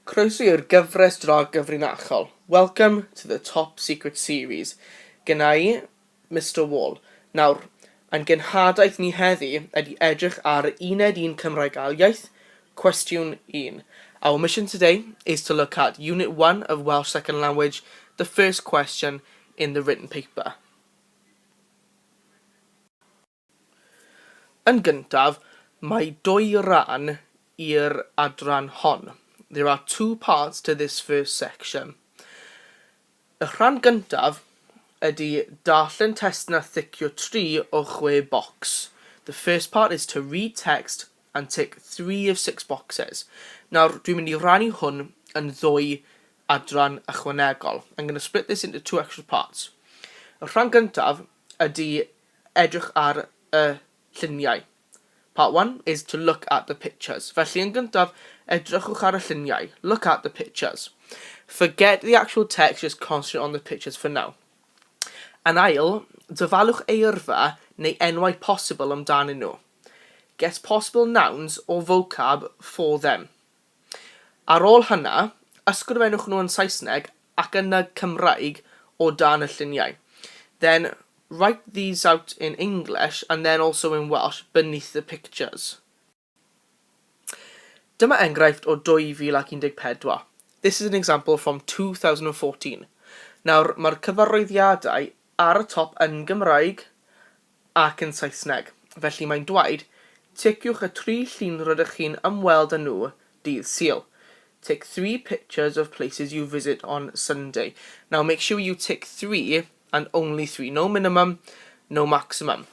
Croeso i'r gyfres dra gyfrinachol, welcome to the top secret series, gynna i, Mister Wall. Nawr, ein genhadaeth ni heddi ydi edrych ar uned un Cymraeg Ail Iaith, cwestiwn un. Our mission today is to look at unit one of Welsh second language, the first question in the written paper. Yn gyntaf, mae dwy ran i'r adran hon. There are two parts to this first section. Y rhan gyntaf ydy darllen testun a thicio tri o chwe bocs. The first part is to read text and tick three of six boxes. Nawr, dwi'n mynd i rannu hwn yn ddwy adran ychwanegol. I'm going to split this into two extra parts. Y rhan gyntaf ydy edrych ar y lluniau. Part one is to look at the pictures. Felly yn gyntaf, edrychwch ar y lluniau. Look at the pictures. Forget the actual text, just concentrate on the pictures for now. Yn ail, dyfalwch eirfa neu enwau posibl amdanyn nhw. Get possible nouns or vocab for them. Ar ôl hynna, ysgrifennwch nhw yn Saesneg ac yna Cymraeg o dan y lluniau. Then, write these out in English and then also in Welsh beneath the pictures. Dyma enghraifft o 2014. This is an example from 2014. Nawr, mae'r cyfarwyddiadau ar y top yn Gymraeg ac yn Saesneg, felly mae'n dwaed, Ticiwch y tri llun rydych chi'n ymweld â nhw dydd Sul. Tick three pictures of places you visit on Sunday. Now make sure you tick three and only three. No minimum, no maximum.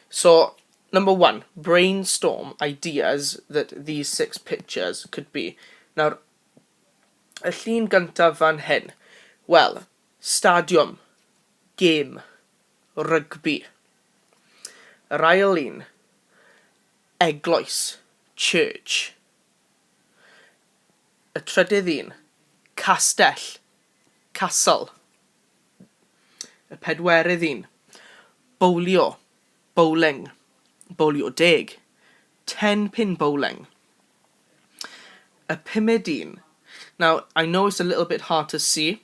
So, number one, brainstorm ideas that these six pictures could be. Nawr, y llun gyntaf fan hyn. Wel, stadiwm, gêm, Rygbi. Yr ail un, eglwys, church. Y trydydd un, castell, castle. Y pedwerydd un, bowlio, bowling, bowlio deg, ten pin bowling. Y pumed un, now I know it's a little bit hard to see,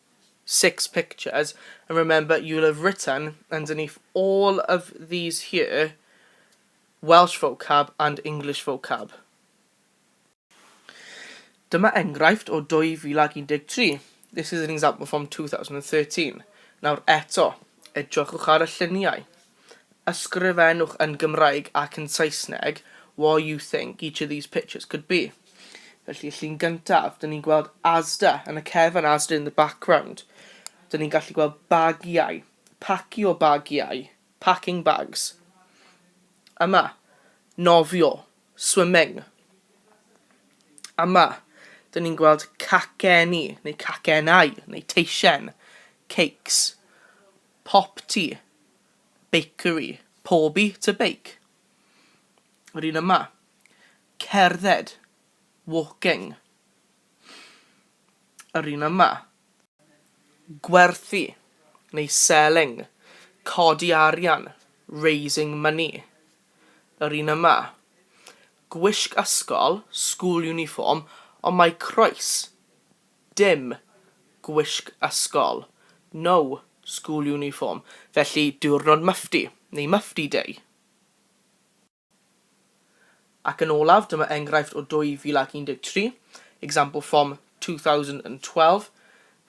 six pictures and remember you'll have written underneath all of these here Welsh vocab and English vocab. Dyma enghraifft o 2013. This is an example from 2013. Nawr eto, edrychwch ar y lluniau. ysgrifennwch yn Gymraeg ac yn Saesneg what you think each of these pictures could be. Felly, y llun gyntaf, dyn ni'n gweld Asda yn y cefn, Asda in the background. Dyn ni'n gallu gweld bagiau, pacio bagiau, packing bags. Yma, nofio, swimming. Yma, dyn ni'n gweld caceni, neu cacenau, neu teisen, cakes. Pop to bakery, pobi to bake. Yr un yma. Cerdded, walking. Yr un yma. Gwerthu neu selling, codi arian, raising money. Yr un yma. Gwisg ysgol, school uniform, ond mae croes. Dim. Gwisg ysgol. No. School uniform. Felly, diwrnod Mufti, neu Mufti Day. Ac yn olaf, dyma enghraifft o 2013, example from 2012,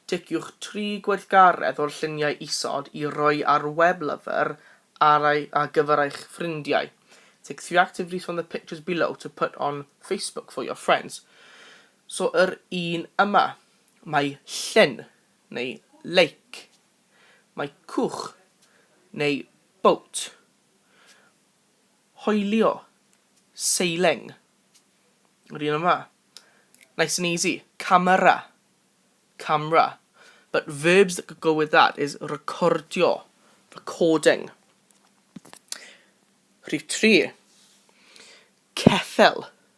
Ticiwch tri gweithgaredd o'r lluniau isod i roi ar web lyfr ar ei, ar gyfer eich ffrindiau. Take three activities from the pictures below to put on Facebook for your friends. So yr un yma. Mae llen, neu lake. Mae cwch, neu boat. Hoelio, sailing. Yr un yma. Nice and easy. Camera, camera. But verbs that could go with that is recordio, recording. Rhif 3. Ceffel,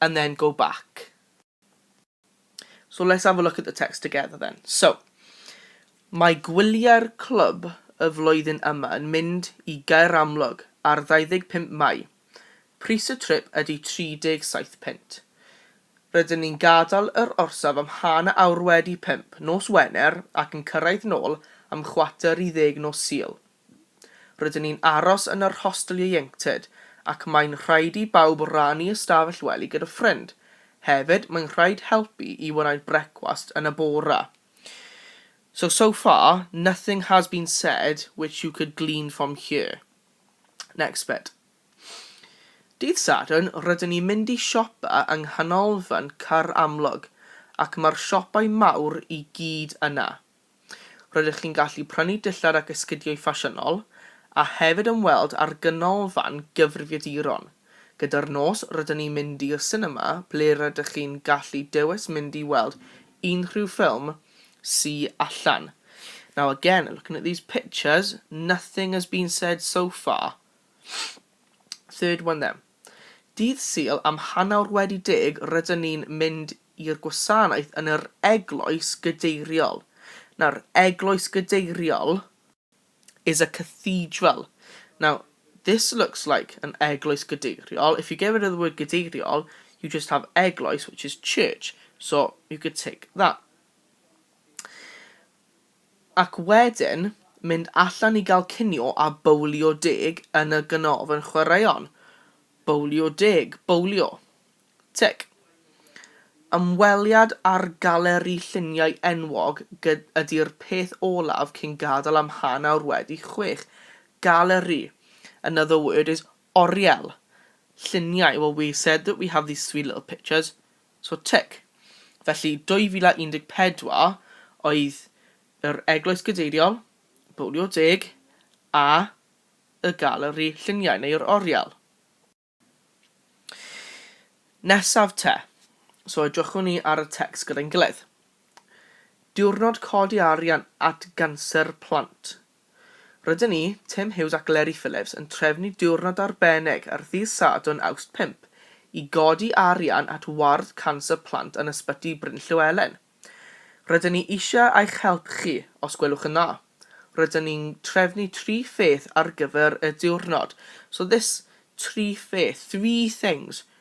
and then go back. So let's have a look at the text together then. So, mae gwyliau'r clwb y flwyddyn yma yn mynd i Gaer Amlwg ar 25 Mai. Pris y trip ydy 37 punt. Rydyn ni'n gadael yr orsaf am hanner awr wedi pump nos Wener ac yn cyrraedd nôl am chwarter i ddeg nos Sul. Rydyn ni'n aros yn yr hostel ieuenctid ac mae'n rhaid i bawb rannu ystafell wely gyda ffrind. Hefyd, mae'n rhaid helpu i wneud brecwast yn y bore. So, so far, nothing has been said which you could glean from here. Next bit. Dydd Sadwrn, rydyn ni'n mynd i siopa yng Nghanolfan Caer Amlwg ac mae'r siopau mawr i gyd yna. Rydych chi'n gallu prynu dillad ac esgidiau ffasiynol, a hefyd ymweld â'r Ganolfan Gyfrifiaduron. Gyda'r nos, rydyn ni'n mynd i'r sinema ble rydych chi'n gallu dewis mynd i weld unrhyw ffilm sy allan. Now again, looking at these pictures, nothing has been said so far. Third one then. Dydd Sul am hanawr wedi deg rydyn ni'n mynd i'r gwasanaeth yn yr Eglwys Gadeiriol. Nawr, Eglwys Gadeiriol is a cathedral. Now, this looks like an Eglwys Gadeiriol. If you get rid of the word Gadeiriol, you just have Eglwys, which is church. So, you could take that. Ac wedyn mynd allan i gael cinio a bowlio deg yn y ganolfan chwaraeon. Bowlio deg. Bowlio. Tic. Ymweliad â'r galeri lluniau enwog ydy'r peth olaf cyn gadael am hanawr wedi chwech. Galeri. Another word is oriel. Lluniau, well we said that we have these three little pictures. So tic. Felly 2014 oedd yr Eglwys Gadeiriol, Bowlio Deg a y Galeri Lluniau neu yr Oriel. Nesaf te. So edrychwn ni ar y tecs gyda'n gilydd. Diwrnod codi arian at ganser plant. Rydyn ni, Tim Hughes ac Leri Phillips yn trefnu diwrnod arbennig ar ddydd Sadwrn Awst 5 i godi arian at ward canser plant yn Ysbyty Bryn Llewelyn. Rydyn ni eisiau eich help chi, os gwelwch yn dda. Rydyn ni'n trefnu tri pheth ar gyfer y diwrnod, so this tri pheth, three things,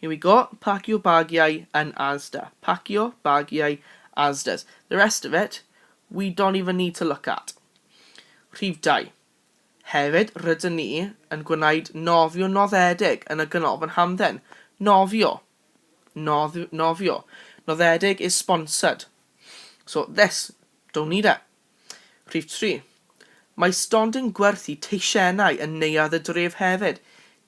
Here we go, pacio bagiau yn Asda. Pacio bagiau Asdas. The rest of it, we don't even need to look at. Rhif 2. Hefyd, rydyn ni yn gwneud nofio noddedig yn y Ganolfan Hamdden. Nofio. Nodd, nofio. Noddedig is sponsored. So, this, don't need it. Rhif 3. Mae stondin gwerthu teisiennau yn Neuadd y Dref hefyd.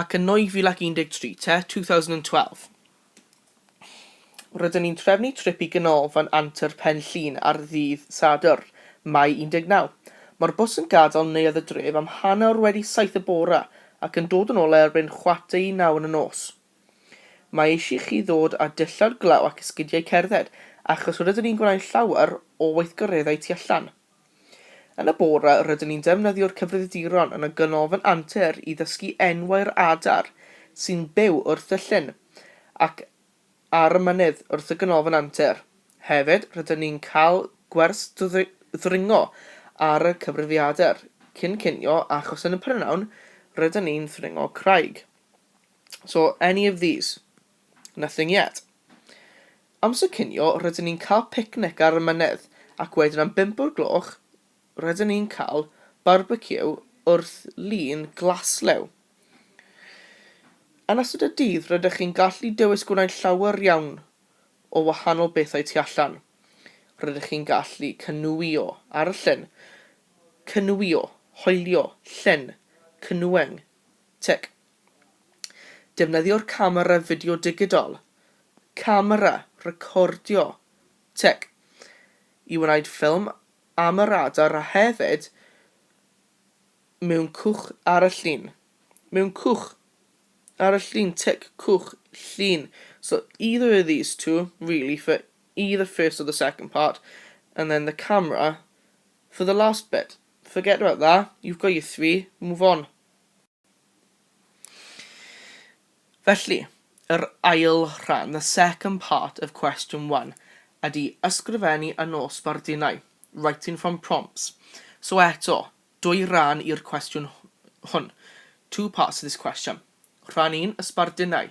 Ac yn 2013 te, 2012, rydyn ni'n trefnu trip i Ganolfan Antur Pen Llŷn ar ddydd Sadwrn, Mai 19. Mae'r bws yn gadael Neuadd y Dref am hanner wedi saith y bore ac yn dod yn ôl erbyn chwarter i naw yn y nos. Mae eisiau chi ddod â dillad glaw ac esgidiau cerdded, achos rydyn ni'n gwneud llawer o weithgareddau tu allan. Yn y bore rydyn ni'n defnyddio'r cyfrifiaduron yn y Ganolfan Antur i ddysgu enwau'r adar sy'n byw wrth y llyn ac ar y mynydd wrth y Ganolfan Antur. Hefyd, rydyn ni'n cael gwers ddringo ar y cyfrifiadur cyn cinio achos yn y prynhawn rydyn ni'n ddringo craig. So, any of these? Nothing yet. Amser cinio rydyn ni'n cael picnic ar y mynydd ac wedyn am bump o'r gloch rydyn ni'n cael barbeciw wrth lun Glaslew. Yn ystod y dydd rydych chi'n gallu dewis gwneud llawer iawn o wahanol bethau tu allan. Rydych chi'n gallu canŵio ar y llyn, canŵio, hoelio, llyn, canoeing, tic. Defnyddio'r camera fideo digidol, camera recordio, tech, i wneud ffilm am y radar a hefyd mewn cwch ar y llun, mewn cwch ar y llun, tech, cwch, llun. So either of these two, really, for either first or the second part, and then the camera for the last bit. Forget about that, you've got your three, move on. Felly, yr ail rhan, the second part of question one, ydy ysgrifennu yn ôl sbardunnau, writing from prompts. So eto, dwy ran i'r cwestiwn hwn, two parts to this question. Rhan un, y sbardunnau.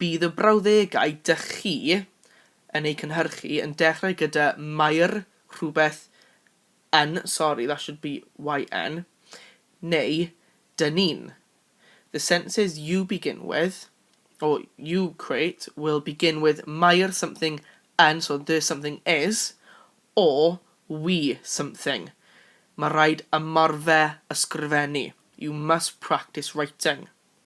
Bydd y brawddegau dych chi yn eu cynhyrchu yn dechrau gyda Maer rhywbeth yn, sorry that should be yn, neu dŷ ni'n. The sentences you begin with, or you create, will begin with Maer something yn, so dŷ something is, or we something. Mae rhaid ymarfer ysgrifennu, you must practice writing.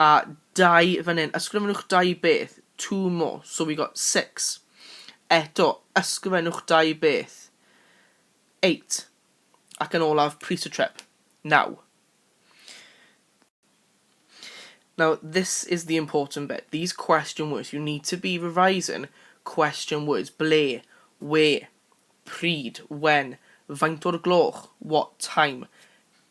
A dau fan hyn. Ysgrifennwch dau beth. Two more. So we got six. Eto, ysgrifennwch dau beth. Eight. Ac yn olaf, pris y trip. Naw. Now, this is the important bit. These question words, you need to be revising question words. Ble, where, pryd, when, faint o'r gloch, what time.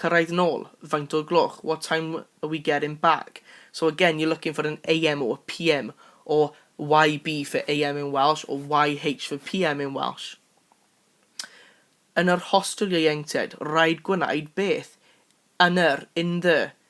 Cyrraedd nôl, faint o'r gloch, what time are we getting back? So again, you're looking for an AM or a PM, or YB for AM in Welsh, or YH for PM in Welsh. Yn yr hostel ieuenctid, rhaid gwneud beth? Yn yr, in the,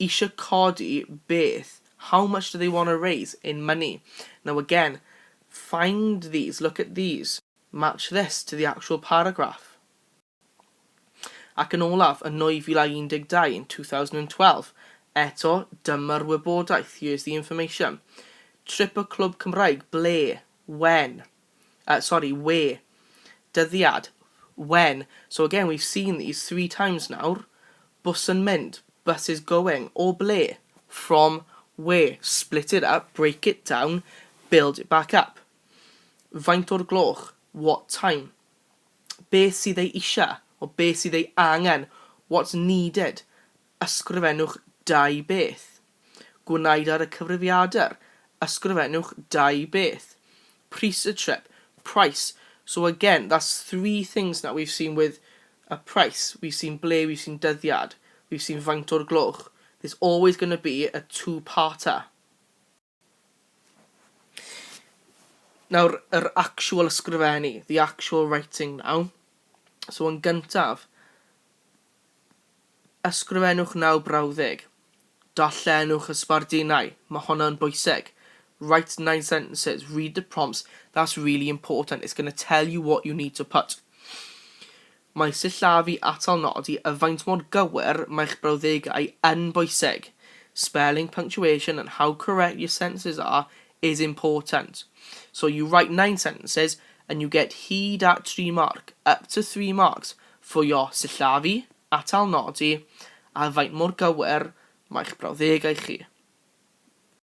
isio codi beth, how much do they want to raise in money? Now again, find these, look at these, match this to the actual paragraph. Ac yn olaf, yn 2012, in 2012, eto, dyma'r wybodaeth, here's the information. Trip y clwb Cymraeg, ble, when? uh, sorry, we, dyddiad, when, so again we've seen these three times nawr, bws yn mynd, bus is going, o ble, from where, split it up, break it down, build it back up. Faint o'r gloch, what time. Beth sydd ei eisiau, o beth sydd ei angen, what's needed. Ysgrifennwch dau beth. Gwnaed ar y cyfrifiadur, ysgrifennwch dau beth. Pris y trip, price. So again, that's three things now. We've seen with a price, we've seen ble, we've seen dyddiad, we've seen faint o'r gloch. There's always going to be a two-parter. Nawr, yr actual ysgrifennu, the actual writing now. So yn gyntaf, ysgrifennwch naw brawddeg. Darllenwch y sbardunau, mae honno yn bwysig. Write nine sentences, read the prompts, that's really important, it's going to tell you what you need to put. Mae sillafu atal nodi a faint mor gywir mae'ch brawddegau yn bwysig. Spelling, punctuation and how correct your sentences are is important. So you write nine sentences and you get hyd at tri marc, up to three marks, for your sillafu, atal nodi a faint mor gywir mae'ch brawddegau chi.